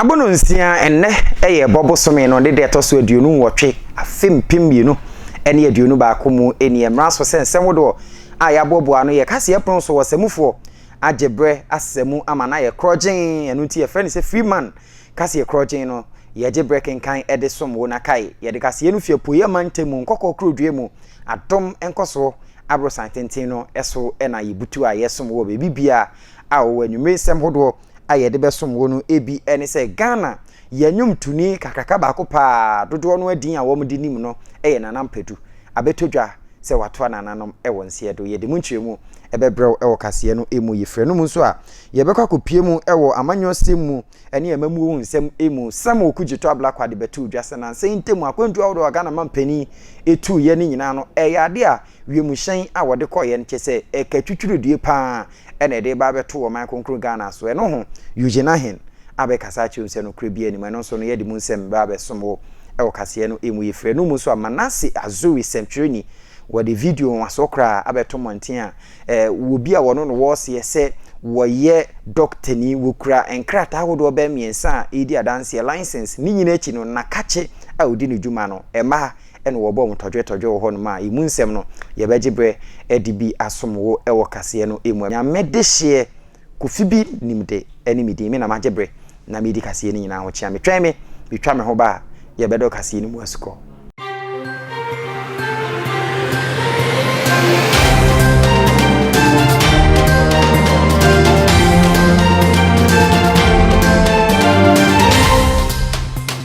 Abono nsia, ɛnnɛ yɛ ɛbɔ bosome no ne deɛ ɛtɔ so aduonu nwɔtwe afe mpem mmienu ne aduonu baako mu nie. Mmara so sɛ nsɛm wodoɔ a yɛaboaboa ano yɛ kaseɛ pono so ɔsamufoɔ agye berɛ asa mu ama no ayɛ korɔgyenn, ɛno nti yɛfrɛ no sɛ Freeman kaseɛ korɔgyenn no, yɛgye berɛ kenkan de som wo na kae yɛde kaseɛ no fi Apueeɛ mantamu Nkɔkɔɔ Kurodua mu, adom nkɔsoɔ aborosan tenten no so na yɛbutu a yɛsom wo wɔ baabi biara a wowɔ anwummere nsɛm hodoɔ. a yɛde bɛsom wo no bi ne sɛ Ghana yɛn nnwomtoni kakraka baako pɛ a dodoɔ no ara din a wɔde nim no yɛ Nana Mpadu. Abɛtɔ dwa sɛ watoa nananom wɔ nseɛ do. Yɛde mu nkyerɛmu bɛbrɛ wo wɔ kaseɛ no mu. Yɛfiri anom nso a, yɛbɛkɔ akɔpue mu wɔ amanyɔsɛm mu ne amammuo nsɛm mu. Samuel Kugyetɔ Ablakwa ade bɛtoo dwa sɛ nansa yi ntam akwantuo ahodoɔ a Ghana mampanin tuiɛ no nyinaa no, ɛyɛ adeɛ a wiemhyɛn a wɔde kɔeɛ no kyɛ sɛ ɛkatwitwiridie pa ara. ɛna ɛde ba abɛto wɔ ɔman kronkron Ghana so. Ɛno ho, Eugene Ahen abɛkasa akyerɛ wo sɛ nokorɛ biara nni mu. Ɛno nso no, yɛde mu nsɛm ba abɛsom wo wɔ kaseɛ no mu. Yɛfiri anom mu nso a, Manasseh Azuri, sɛmtwerɛni, wɔde video nwasoɔ koraa abɛto mmɔnten a wɔ bi a wɔno no wɔ seɛ sɛ wɔyɛ dɔktani, wɔkura nkrataa ahodoɔ bɛyɛ mmiɛnsa a ɛredi adanseɛ, license, ne nyinaa akyi no, nnakakye a ɔdi ne dwuma no, mmaa. ɛna wɔbɔɔ mo tɔdwe tɔdwe wɔ hɔnom a, emu nsɛm no, yɛbɛgye berɛ de bi asom wo wɔ kaseɛ no mu. Nyame dehyeɛ, Kofi bi nimde ne me din, me na magye berɛ na medi kaseɛ no nyinaa ho kyea me. Twɛn me, metwa me ho ba a, yɛbɛdɔ kaseɛ no mu asukɔ.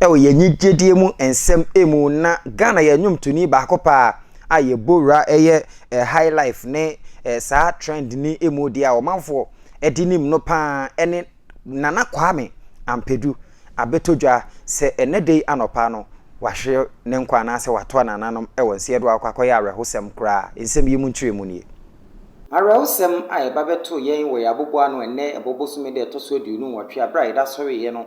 wɔ yɛn nyigyedie mu nsɛm mu na Ghana yɛ nnwomtoni baako paa a yɛbɔ wura ɛyɛ eh, high life ne eh, saa trend ni mu deɛ a ɔmanfoɔ ɛde nim no paa ɛne Nana Kwame Ampedu abɛtɔ dwa sɛ ɛnɛ dei anɔpa no wahwe ne nkwa anaasɛ watoa nananom wɔ nseɛ do akɔ akɔyɛ awerɛhosɛm koraa. Nsɛm yi mu nkyerɛmu nie. Awerɛhosɛm a ɛba bɛtoo yɛn wɔ yɛn aboboano ɛnnɛ ɛbɔ bosome da ɛtɔ so aduonu nwɔtwe a berɛ a yɛde asɔreeɛ no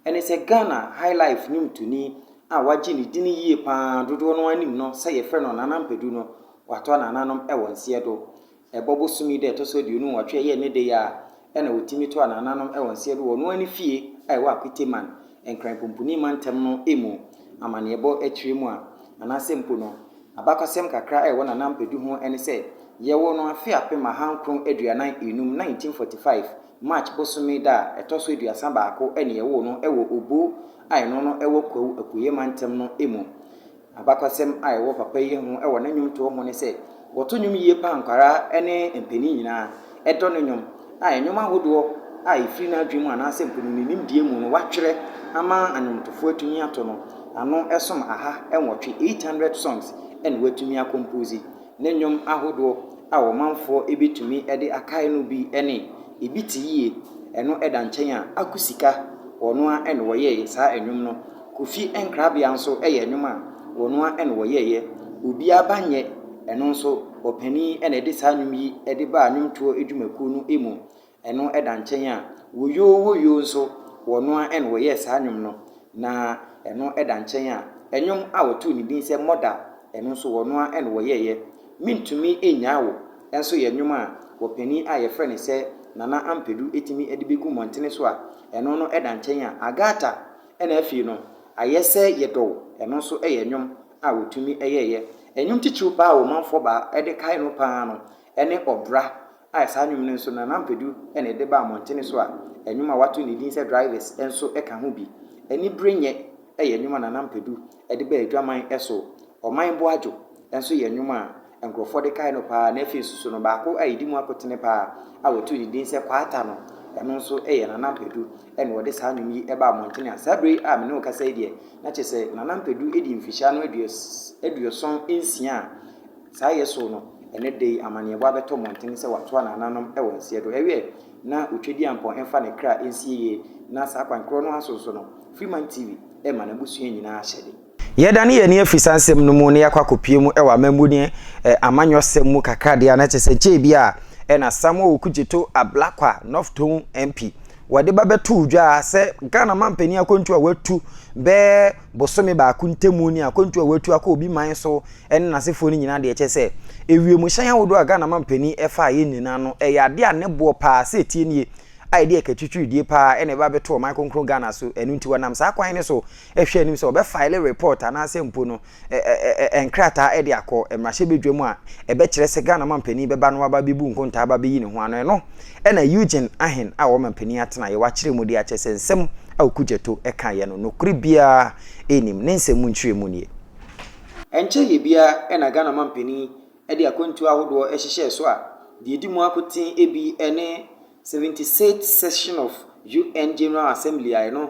Ɛne sɛ Ghana Highlife nnwomtoni a wagye ne dini yie pa ara dodoɔ no ara nim no sɛ yɛfrɛ no Nana Mpadu no, watɔ anananom wɔ nseɛ do. Ɛbɔ bosom yi da ɛtɔ so aduonu nwɔtwe a ɛyɛ ɛnɛ da yi ara na wɔtumi tɔ anananom wɔ nseɛ do wɔ ɔno ara ne fie a ɛwɔ Akwiteman, Nkran Pumpuni Mantam no mu. Amanneɛbɔ akyire mu a, anaasɛ mpo no, abakɔsɛm kakra a ɛwɔ Nana Mpadu ho ne sɛ, yɛwoo no afe apem ahankron aduanan enum, 1945, March bosome da a ɛtɔ so aduasa baako ne yɛwoo no wɔ Obo a ɛno no wɔ Kwawu Apueɛ Mantam no mu. Abakwasɛm a ɛwɔ papa yi ho wɔ ne nnwomtoɔ ho ne sɛ, wɔto nnwom yie pa a nkwadaa ne mpanin nyinaa dɔ ne nnwom, a nnwom ahodoɔ a ɛfiri n'adwene mu anaasɛ mpo no ne nimdeɛ mu no watwerɛ ama nnwomtofoɔ atumi ato no, ano som aha nwɔtwe, 800 songs, na watumi akɔmpoose. Ne nnwom ahodoɔ a ɔmanfoɔ bɛtumi de akae no bi ne, Ebi te yie, Ɛno da nkyɛn a, Aku sika, wɔn ara na wɔyɛeɛ, saa nnwom no. Kofi Nkrabea nso yɛ nnwom a wɔn ara na wɔyɛeɛ, Obiara ba nyɛ, ɛno nso ɔpanin na ɛde saa nnwom yi de baa nnwomtoɔ dwumakuo no mu. Ɛno da nkyɛn a, Woyoo woyoo nso, wɔno ara na wɔyɛɛ saa nnwom no. Na ɛno da nkyɛn a, nnwom a wɔtoo ne din sɛ Mother, ɛno nso wɔno ara na wɔyɛeɛ. Mentumi Nnyaa Wo nso yɛ nnwom a ɔpanin a wɔfrɛ no sɛ Nana Ampadu tumi de bɛgu mmɔntene so a, ɛno no da nkyɛn a, Agatha na afei no Ayɛ sɛ Yɛdɔ Wo, ɛno nso yɛ nnwom a wɔtumi yɛeɛ. Nnwom titiriw paa a ɔmanfoɔ baa de kae no paa no, Ɛne ɔbra a saa nnwom no nso Nana Ampadu na ɛde baa mmɔntene so a nnwom a wɔato ne din sɛ Drivers nso ka ho bi. Aniberenyɛ yɛ nnwom a Nana Ampadu de baa adwaman so. Ɔman bo adwo nso yɛ nnwom a nkurɔfoɔ de kae no pa ara na afei nso so no baako a ɛdi mu akotene pa ara a wɔtoo ne din sɛ Kwaata no, ɛno nso yɛ Nana Ampadu na ɔde saa nnwom yi baa mmɔntene a saa berɛ a me ne wo rekasa yi deɛ na kyerɛ sɛ Nana Ampadu di mfirihyia no aduoson nsia a Saa yɛ so no, ɛnnɛ da yi amanneɛbɔ abɛtɔ mmɔnten sɛ wɔatoa nananom wɔ nseɛ do. Ɛwɛ na Otwadiampɔn mfa ne kra nsie yie, na saa kwan korɔ no ara so nso no, Freeman TV ma n'abusua nyinaa ahyɛde. Yɛdane yɛn ani afiri saa nsɛm no mu na yɛakɔ akɔpue mu wɔ amammuo ne amanyɔsɛm mu kakra deɛ a, na kyerɛ sɛ nkyɛ ebi a ɛna Samuel Okudzeto Ablakwa, North Tongu MP, wɔde ba bɛtoo dwa sɛ Ghana manpanin akwantuo a wɔatu bɛyɛ bosome baako ntamu ne akwantuo a watu akɔ obi man so ne n'asefoɔ no nyinaa deɛ kyɛ sɛ ewiemhyɛn ahodoɔ a Ghana mampanin ɛfa yɛ nyinaa no ɛyɛ adeɛ a ne boɔ paa sɛ etie nie a ɛde ɛkatwitwiridie paa ɛna ɛba bɛto ɔman kronkron Ghana so ɛno nti wɔnam saa kwan no so ɛhwɛ anim sɛ wɔbɛfile report anaasɛ mpo no nkrataa ɛde akɔ mmarahyɛbadwam a ɛbɛkyerɛ sɛ Ghana mampanin bɛba no aba bɛbu nkontaa aba bɛyi ne ho ano ɛno Ɛnna Eugene Ahen a ɔma mpanyin atenae a wɔakyerɛ mu de akyerɛ sɛ nsɛm a Okudzeto kaeɛ no, nokorɛ biara nnim. Ne nsɛm mu nkyerɛmu nie. Ɛnkyɛeɛ biara na Ghana mampanin de akwantuo ahodoɔ hyehyɛɛ so a deɛ ɛdi mu ako tee bi ne 76th Session of UN General Assembly a ɛno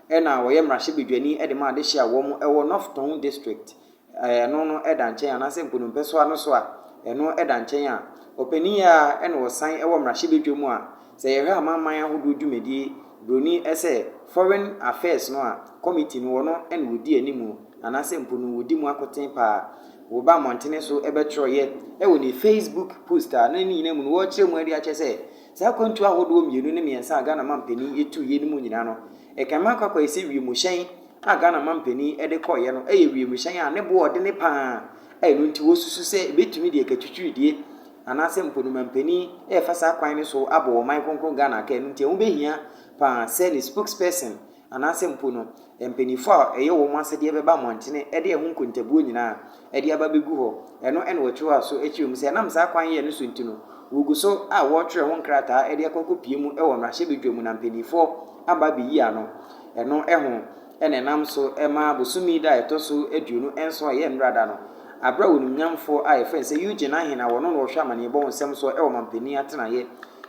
na ɔyɛ mmarahyɛbadwani de ma adehye a wɔn wɔ North Tongu District a ɛno no da nkyɛn anaasɛ Nkonompɛsoa no so a ɛno da nkyɛn a, ɔpanin yi ara na ɔsan wɔ mmarahyɛbadwa mu a sɛ yɛhwɛ amanaman ahodoɔ dwumadie buroni sɛ Foreign Affairs no a committee no ɔno na ɔdi anim anaasɛ mpo no ɔdi mu akoten paa. Wɔba mmɔntene so bɛtwerɛeɛ wɔ ne Facebook post a na ne nyinaa mu no wɔkyerɛ mu de akyerɛ sɛ Saa akwantu ahodoɔ mmienu ne mmiɛnsa a Ghana mampanin tu yɛ no mu nyinaa no, ɛkan ma akɔ akɔyɛ sɛ wiemhyɛn a Ghana mampanin de kɔeɛ no yɛ wiemhyɛn a ne boɔ ɔdene pa ara a ɛno nti wɔsusu sɛ ɛbɛtumi de ɛka twitwiridie anaasɛ mpo no mampanin refa saa kwan no so abɔ ɔman kronkron Ghana ka ɛno nti ɛho bɛhia pa ara sɛ ne spokesperson anaasɛ mpo no mpanyimfo a ɛyɛ wɔn asɛdeɛ bɛba mmɔntene de ɛho nkontabuo nyinaa de aba abɛgu hɔ. Ɛno na wɔtwerɛ aso kyerɛ mu sɛ ɛnam saa kwan yɛ no so nti no, wɔgu so a wɔretwerɛ ho nkrataa de akɔ akɔpue mu wɔ mmarahyɛbadwa mu na mpanimfoɔ aba abɛyi ano. Ɛno ho na ɛnam so ma bosome da a ɛtɔ so aduonu nson a ɛyɛ nnora da no, berɛ a onimnyamfoɔ a wɔfrɛ no sɛ Eugene Ahene a ɔno na ɔhwɛ amanneɛbɔ ho nsɛm soɔ wɔ ɔmampanin atenaeɛ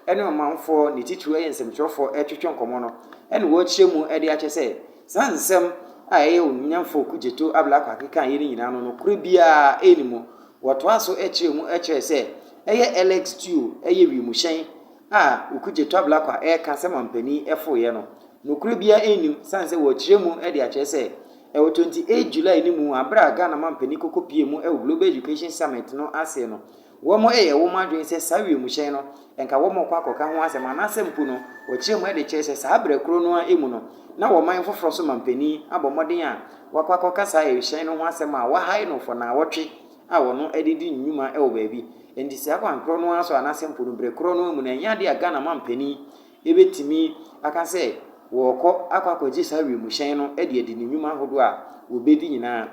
ne ɔmanfoɔ, ne titiriw yɛ nsɛmtwerɛfoɔ, retwetwe nkɔmmɔ no, ɛna wɔrekyerɛ mu de akyɛ sɛ saa nsɛm a ɛyɛ onimnyamfoɔ Kudzeto Ablakwa akeka yɛ no nyinaa no nokorɛ biara ɛnni mu. Wɔtoa so kyerɛ mu kyerɛ sɛ ɛyɛ LX Duo ɛyɛ wiemhyɛn a Kudzeto Ablakwa reka sɛ mampanin foeɛ no. Nokorɛ biara ɛnni mu sane sɛ wɔrekyerɛ mu de akyerɛ sɛ ɛwɔ 28 July no mu a berɛ a Ghana mampanin kɔkɔpie mu wɔ Global Education Summit no ase no, Wɔyɛ wɔn adwene sɛ saa wimhyɛn no, anka wɔrekɔ akɔka ho asɛm, anaasɛ mpo no, wɔkyerɛ mu de kyerɛ sɛ saa bere koro no ara mu no, na ɔman foforo so manpanin abɔ mmɔden a wakɔ akɔka saa wimhyɛn no ho asɛm a wahae no for nnawɔtwe a ɔno de di nnwuma wɔ baabi. Enti saa kwan koro no ara so, anaasɛ mpo no bere koro no ara mu no, ɛnyɛ ade a Ghana manpanin betumi aka sɛ wɔrekɔ akɔ akɔgye saa wimhyɛn no de adi ne nnwuma ahodoɔ a wɔbɛdi nyinaa.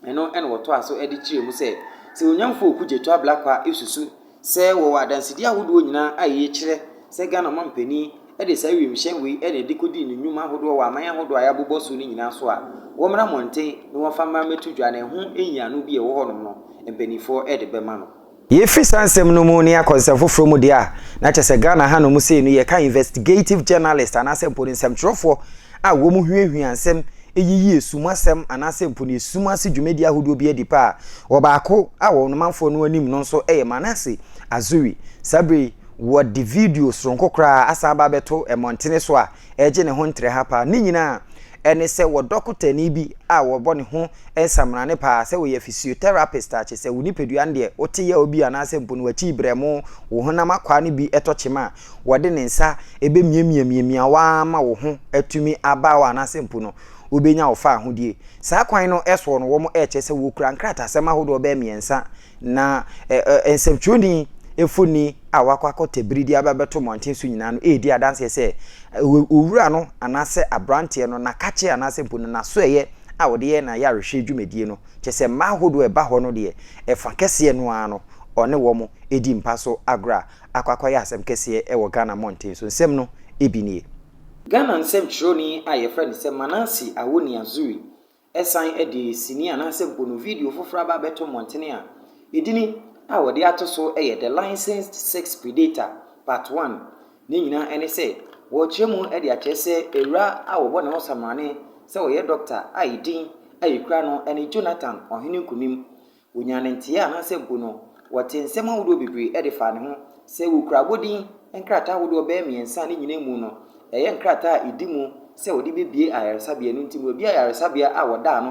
Eno na wɔtoaa so de kyerɛɛ mu sɛ, sɛ Onyamfo Oku Jetu Ablakwa susu sɛ wɔwɔ adansedi ahodoɔ nyinaa a eye kyerɛ sɛ Ghana Ɔmampanin de saa wiemhyɛn wei na ɛde kɔdii ne nnwuma ahodoɔ wɔ aman ahodoɔ a yɛabobɔ so no nyinaa so a, wɔmmra mmɔnten na wɔmfa mmra mmɛto dwa na ɛho nyiano bi a ɛwɔ hɔnom no, mpaninfoɔ de bɛma no. Yɛfiri saa nsɛm no mu ne akɔ nsɛm foforɔ mu deɛ a, na kyerɛ sɛ Ghana hanom sei no yɛka investigative journalist anaasɛ mpo no nsɛmtwerɛfoɔ a wɔn huahua nsɛm yiyi esum asɛm anaasɛ mpo no esum ase dwumadie ahodoɔ bi adi paa. Wɔ baako a wɔn manfoɔ no anim no nso yɛ Manasseh Azuri. Saa berɛ yi wɔde video sononko koraa asan aba abɛto mmɔntene so a, ɛregye ne ho ntrɛha paa. Ne nyinaa a, ɛne sɛ wɔ dɔkotani bi a wɔbɔ ne ho nsamrane paa, sɛ wɔyɛ physiotherapist a, kyesɛ wo nipadua no deɛ wote yaw bi anaasɛ mpo no w'akyi brɛmo, wo honam akwaa no bi tɔ kyema a, wɔde ne nsa bɛmiamiamiamia wo ara ma wo ho atumi aba hɔ anaasɛ mpo no wobɛnya wo faahodie. Saa kwan no soɔ no wɔrekyerɛ sɛ wɔkura nkratasɛm ahodoɔ bɛyɛ mmiɛnsa Na ɛ, ɛ, nsɛmtwerɛni mfoni a wɔakɔ akɔtɛ bere de aba abɛto mmɔnten so nyinaa no redi adanseɛ sɛ ɛ, owura no anaasɛ aberanteɛ no n'akakyeɛ anaasɛ mpo no n'asoɛeɛ a ɔde yɛ n'ayarehwɛ dwumadie no, kyerɛ sɛ mmaa ahodoɔ a ɛba hɔ no deɛ, ɛfã kɛseɛ no ara no, ɔne wɔn di mpa so agorɔ a akɔ akɔyɛ asɛm kɛseɛ wɔ Ghana mmɔnten so. Nsɛm no bi nie. Ghana nsɛmtwerɛni a wɔfrɛ no sɛ Manase Awoni Azuri Ɛsan de sini anaasɛ mpono video foforo aba abɛto mmɔntene a edini a wɔde ato so yɛ The Licensed Sex Predator, Part One. Ne nyinaa ne sɛ wɔrekyerɛ mu de akyerɛ sɛ awura a wɔbɔ ne ho samrane sɛ ɔyɛ dɔkta a edin a ekura no ne Jonathan, Ɔhene Nkonim, Onyaa no nteɛ anaasɛ mpo no wɔtee nsɛm ahodoɔ bebree de faa ne ho. Sɛ wɔkura abɔdin nkrataa ahodoɔ bɛyɛ mmiɛnsa a ne nyinaa mu no ɛyɛ nkrataa a ɛdi mu sɛ wɔde bɛbue ayaresabea, ɛno nti no wɔabue ayaresabea a wɔdaa no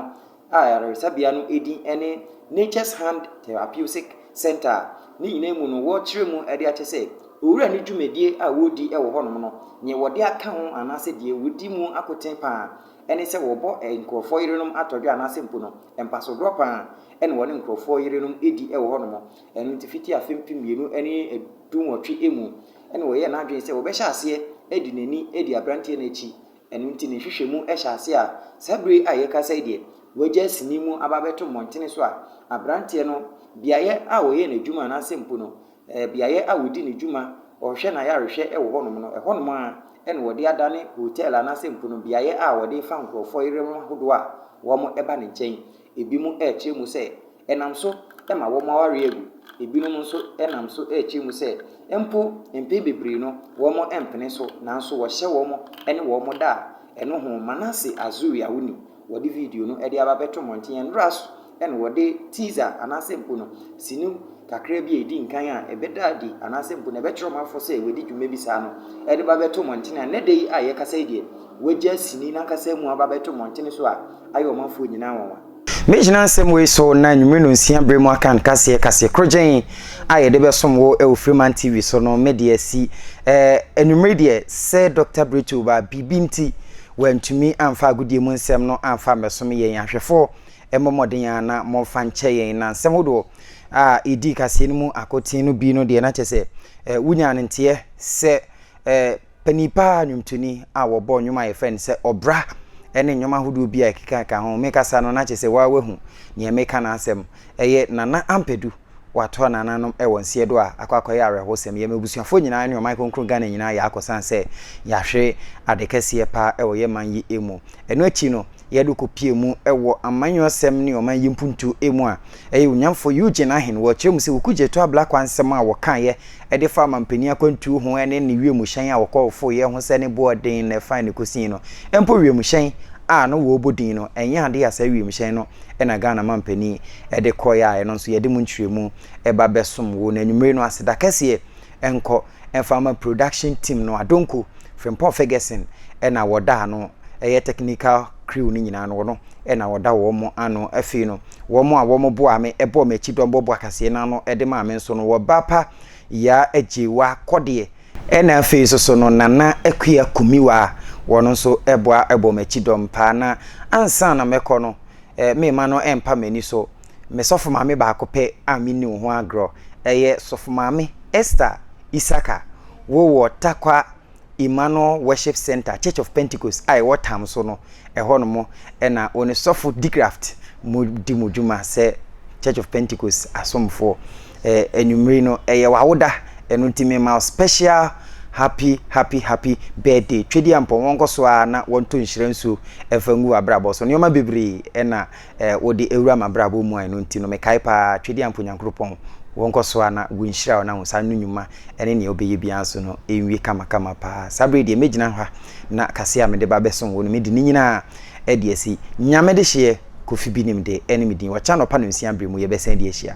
a ayaresabea no din ne Nature's Hand Therapeutic Centre a ne nyinaa mu no wɔrekyerɛ mu de akyɛ sɛ owura no dwumadie a wɔredi wɔ hɔnom no neɛ wɔde aka ho anaasɛ deɛ wɔdi mu akoten paa ne sɛ wɔbɔ nkurɔfoɔ yerenom atɔdwe anaasɛ mpo no Mpasodoɔ pa ara na wɔne nkurɔfoɔ yerenom di wɔ hɔnom. Ɛno nti, fiti afe mpem mmienu ne dunwɔtwe mu na ɔyɛɛ n'adwene sɛ ɔbɛhyɛ aseɛ de n'ani adi aberanteɛ no akyi. Ɛno nti, ne nhwehwɛmu hyɛ ase a saa bere a yɛrekasa yi deɛ, wagyae sini mu aba abɛto mmɔntene so a aberanteɛ no, beaeɛ a ɔyɛɛ n'adwuma anaasɛ mpo no, beaeɛ a wɔdi ne dwuma, ɔhwɛ n'ayarehwɛ wɔ hɔnom no, ɛhɔnom ara na wɔde adane hotel anaasɛ mpono beaeɛ a wɔde fa nkurɔfoɔ yerem ahodoɔ a wɔba ne nkyɛn. Ebinom rekyerɛ mu sɛ, ɛnam so ma wɔn awareɛ agu. Ebinom nso nam so rekyerɛ mu sɛ, mpo mpɛn bebree no, wɔmpene so, nanso wɔhyɛ wɔn ne wɔn da a, ɛno ho Manase Azuria wo nim. Wɔde video no de aba bɛto mmɔnten a, nnora so na wɔde teaser anaasɛ mpo no sini kakraa bi a edi nkan a ɛbɛda adi anaasɛ mpo no ɛbɛkyerɛ ɔmanfo sɛ wɔadi dwuma bi saa no de ba bɛto mmɔnten a. Nnɛ da yi a yɛkasa yi deɛ, wɔagyaa sini no ankasa mu aba bɛto mmɔnten so a ayɛ ɔmanfoɔ nyinaa nwanwa. Me gyina nsɛm wei so na anwummere nonsia bere mu aka nkaseɛ kaseɛ korogyenn a yɛde bɛsom wo wɔ Freeman TV so no me de asi. Ɛɛ, anwummere deɛ, sɛ Dɔkta Brittle ba biribi nti Wɔantumi amfa agodie mu nsɛm no amfa ammɛsom yɛn ahwɛfo. Ɛmmɔ mmɔden ara na momfa nkyɛ yɛn. Na nsɛm hodoɔ a ɛdii kaseɛ no mu akoten no bi no deɛ na kyerɛ sɛ wonyaa no nteɛ sɛ panin pa ara nnwomtoni a wɔbɔ nnwom a yɛfrɛ no sɛ ɔbra ne nnwom ahodoɔ bi a ɛkekakeka ho. Mekasa no na kyerɛ sɛ woa woahu nea meka no asɛm. Ɛyɛ Nana Ampadu. wɔatoa nananom wɔ nseɛ do a akɔ akɔyɛ awerɛhosɛm. Yɛ m'ebusuafoɔ nyinaa ne ɔman kronkron Ghana nyinaa yɛakɔ san sɛ yɛahwe ade kɛseɛ paa wɔ yɛ man yi mu. Ɛno akyi no yɛde kɔ pie mu wɔ amanyɔsɛm ne ɔman yi mpuntuo mu a ɛyɛ Onyamfo Eugene Ahen wɔ kyerɛ mu sɛ Ɔku Gyetoa Blakwa nsɛm a wɔkaeɛ Ɛde fa mampanin akwantuo ho ne ne wiemhyɛn a wɔkɔfoeɛ ho sɛ ne boɔ den na ɛfa ne kɔsii no. Mpo wiemhyɛn a na wɔrebɔ din no, ɛnyɛ adeɛ a saa wiemhyɛn no na Ghana mampanin de kɔeɛ a ɛno nso yɛde mu nkyerɛmu ba bɛsom wo no anwummere no. Aseda kɛseɛ nkɔ mfa ma production team no, Adonko, Frimpong Ferguson na wɔda ano, ɛyɛ technical crew no nyinaa no, wɔn na wɔda wɔn ano afei no. Wɔn a wɔboaa me bɔɔ m'akyi dɔmbɔ bɔakasee no ano de maa me nso no, wɔba pa Yaa Agyewa Kɔdeɛ, ɛna afei nso so no Nana Akua Kumiwa a wɔn nso boa bɔ m'akyi dɔm paa na ansa na mɛkɔ no me mma no mpa m'ani so, me sɔfo maame baako pɛ a menni wo ho agorɔ, ɛyɛ Sɔfo Maame Esther Isaka, wo wɔ Tarkwa, Emmanuel Worship Centre Church of Pentecost a ɛwɔ Tam so no, ɛhɔ nom na wo ne Sɔfo Digraft mo di mo dwuma sɛ Church of Pentecost asomfoɔ. Eh, anwummere no, ɛyɛ w'awoda, ɛno nti mema wo special happy happy happy birthday. Twedeampɔn, wɔnkɔ so ara na wɔntɔ nhyira nsuo mfa ngu w'abrabɔ so. Nneɛma bebree na a Wode awura m'abrabɔ mu a ɛno nti no mekae paa Twɛdi ampa Onyankropɔn wɔ nkɔ soa na gu nhyira ɔna wo saa no nwuma ɛne nea wobɛyɛ biaa nso no nwie kama kama paa saa bere yi deɛ mɛgyina ha na kaseɛ a mede ba bɛsom wo no mede ne nyinaa ɛde asi Nyame dehyeɛ Kofi Binim de ɛne me din Ɔkyɛ anɔpa nɔnsia bere mu yɛbɛsan adi ahyia.